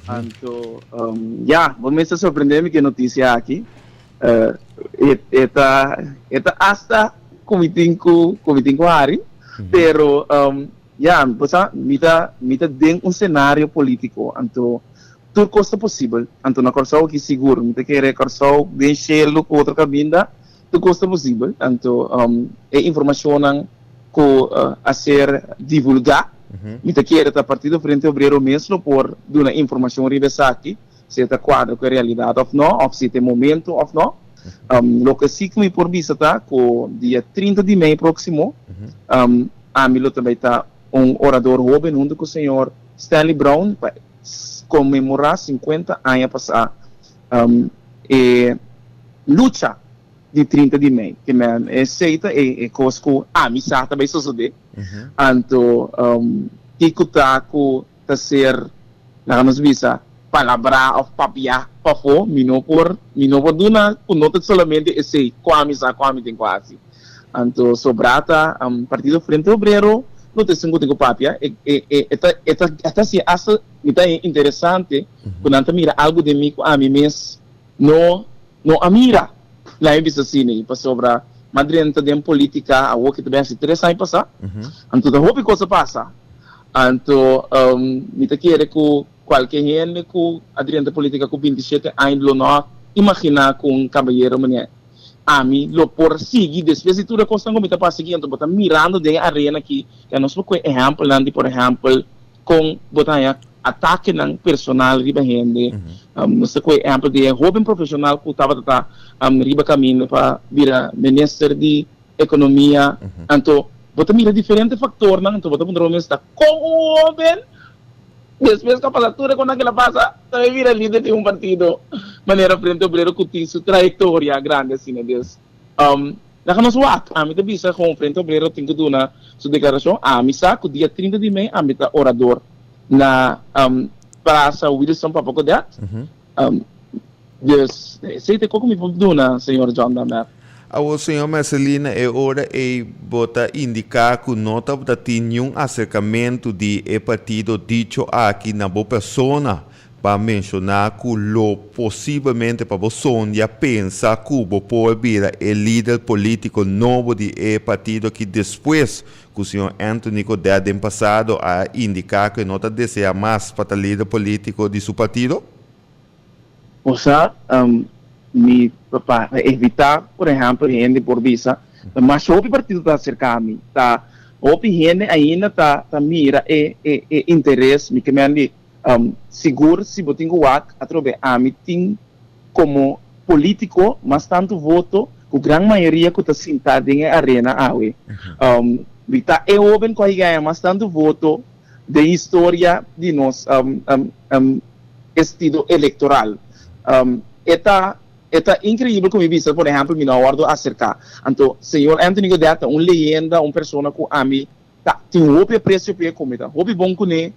Anto, ya, bo mes ta sorprende mi ku e notisia aki. E ta e ta asta ku mi tin ku ku mi tin ku Harry, pero, ya, bo sa mi ta mi ta den un senario polítiko, anto tur kos ta posibel. Anto na Kòrsou aki sigur mi ta kere Kòrsou den shelu ku otro kaminda, Tur kos ta posibel, tantu e informashonnan ku a ser divulgá. Mi ta kere ta Partido Frente Obrero mes lo por duna informashon riba esaki, si e ta kuadra ku e realidat òf nò, òf si ta e momentu òf nò. Loke si ku mi por bisa ta ku dia trinta di mei próksimo, ami lo ta bai ta un orador hóben huntu ku señor Stanley Brown pa konmemorá sinkuenta aña pasá. E lucha di trinta di mei ke men esei ta e kos ku ami sa ta bai sosodé anto kiko ta ku ta ser laga nos bisa palabrá òf papiá pafó mi no por mi no por duna ku no ta solamente esei ku ami sa ku ami tin ku hasi anto sobrá ta Partido Frente Obrero no ta esun ku tin ku papia e ta e ta hasi asta mi ta interesante. ku nan ta mira algu den mi ku ami mes no no a mira. Laimi bisa asina i pasobra Madrin ta den polítika awor ke ta bini hasi tres aña pasá, anto ta hopi kos a pasa. Anto mi ta kere ku kualke hende ku a drenta polítika ku binti shete aña lo no a imaginá ku un kabayero manera ami lo por sigui despues di tur e kosnan ku mi ta pasa aki. Anto bo ta mirando den e arena aki, ya nos por kue ehèmpelnan di por ehèmpel, Con bo ta haya atakenan personal riba hende. Nos ta coge ehempel di e hoben profesional cu tabata ta riba caminda pa bira Minister di Economia. Anto bo ta mira diferente factornan, anto bo ta puntra bo mes ta, con un hoben di e mes capasatura cu nan kila pasa ta bay bira lider di un partido manera Frente Obrero cu tin su trayectoria grandi asina? Des, Laga nos wak, ami ta bisa kon Frente Obrero tin ku duna su deklarashon, ami sa ku dia trinta di mei ami ta orador na Prasa Wilson Papa Godet, dus esei ta ku ku mi por duna señor John Damber. Awor señor Mercely na e ora ei bo ta indiká ku no tabata tin niun aserkamentu di e partido dicho aki na bo persona Pa menshoná ku lo posiblemente pa bo sondia pensa ku bo por bira e lider polítiko nobo di e partido ki despues ku señor Anthony Codet den pasado a indiká ku e no ta deseá mas pa ta lider polítiko di su partido? Bo sa, mi pa evitá por ehèmpel hende por bisa ta mas hopi partido ta aserká mi, ta hopi hende ainda ta mira e interes mi kemen di Sigur si bo tin ku wak atrobe ami tin komo polítiko mas tantu voto ku gran mayoria ku ta sintá den e arena awe. Wi ta e hóben ku a higaya mas tantu voto den historia di nos estido elektoral? E ta e ta inkreibel ku mi bisa por ehèmpel mi no a wòrdu aserká. Anto señor Anthony Godet ta un leyenda, un persona ku ami. Ta tin hopi aprecio pa e comida. Hopi bon cune.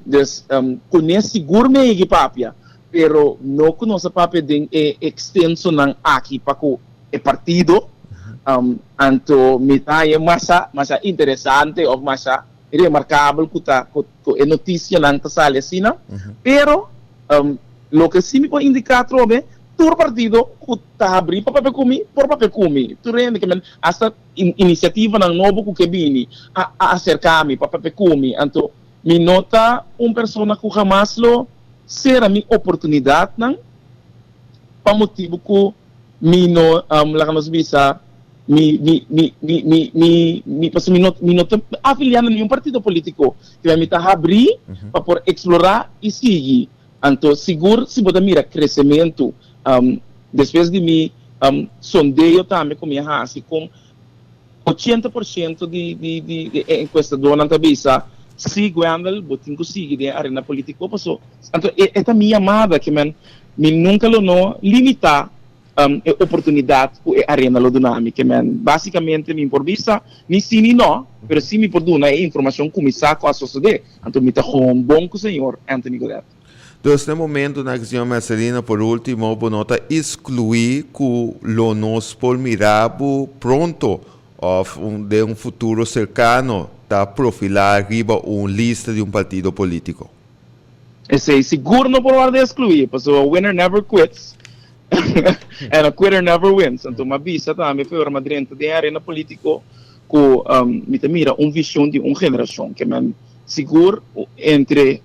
Des cune sigur mi a yegui papia, pero no cu nos a papia den e extensonan aki pa cu e partido. Anto mi ta haña masha masha interesante of masha remarcabel cu ta cu e noticianan ta sali asina. Pero loke si mi por indica atrobe, tur partido cu ta habri pa papia cumi por papia cumi. Tur hende ke men hasta. Inisiativanan nobo ku ke bini a aserká mi pa papia ku mi. Anto mi no ta un persona ku hamas lo sera mi oportunidatnan pa motibu ku mi no, laga nos bisa, mi pasobra mi no, mi no ta afiliá na ningún partido polítiko. Te mi ta habrí pa por eksplorá i sigui Anto sigur si bo ta mira kresementu despues di mi sondeo tambe ku mi a hasi kon ochenta por shento di e enkuestadónan ta bisa si Gwendal bo tin ku sigui den arena politiko paso anto e ta mi yamada ke mi nunka lo no limitá E oportunidat ku e arena lo duna mi ke men. Basikamente mi por bisa ni si ni no, pero si mi por duna e informashon ku mi sa ku a sosodé, anto mi ta houn bon ku señor Anthony Godet. Dus na e momentu na ke señor Mercedino por último bo no ta eskluí ku lo nos por mirá bo pronto òf den un futuro serkano ta profilá riba un lista di un partido polítiko? Esey sigur no por wòrdu eskluí, pasobra a winner never quits en a quitter never wins. Anto mi a bisa tambe por mi a drenta den arena polítiko ku mi ta mira un vishon di un generashon ke men sigur entre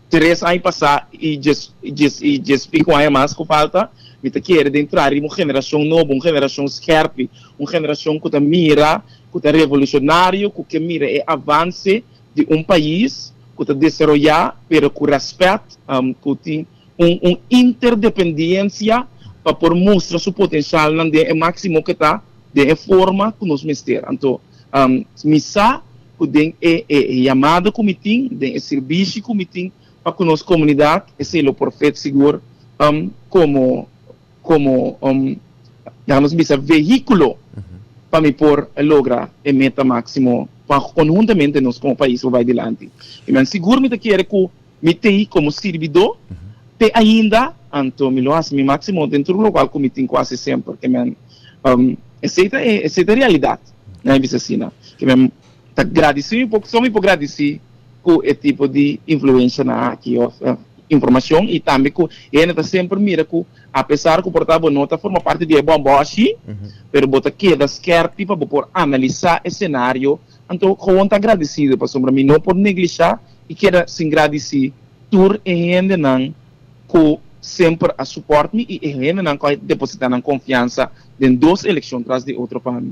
tres aña pasá i djes i djes i piko aña mas ku falta mi ta kere den traha un generashon nobo, un generashon skèrpi, un generashon ku ta mira, ku ta revolushonario, ku ke mira e avanse. di un pais ku ta desaroyá pero ku rèspèt ku tin un un interdependiensia pa por mustra su potensialnan den e máksimo ku ta den e forma ku nos mester. Anto mi sa ku den e e yamada ku mi tin, den e sirbishi ku mi tin pa ku nos komunidat esei lo por fet sigur komo. Komo un, dejamos bisa, vehíkulo pa mi por logra e meta máksimo pa konhuntamente nos komo pais por bai dilanti. I mi a sigur mi ta kere ku mi ta i komo sirbidó te ainda, anto mi lo hasi mi máksimo den tur logal ku mi tin ku hasi semper. Ke mi a esei ta e esei ta e realidat, nan e bisa asina. Ke mi a. Ta gradisí mi por kison mi por gradisí ku e tipo di influenshanan aki òf informashon i tambe ku e hende ta semper mira ku apesar ku por ta bo no ta forma parti di e bòmbò ashí pero bo ta keda skèrpi pa bo por analisá e senario anto gewoon ta gradisido pasobra mi no por neglishá i keda sin gradisí tur e hendenan ku semper a supòrt mi i e hendenan ku a depositá nan konfiansa den dos elekshon tras di otro pa mi.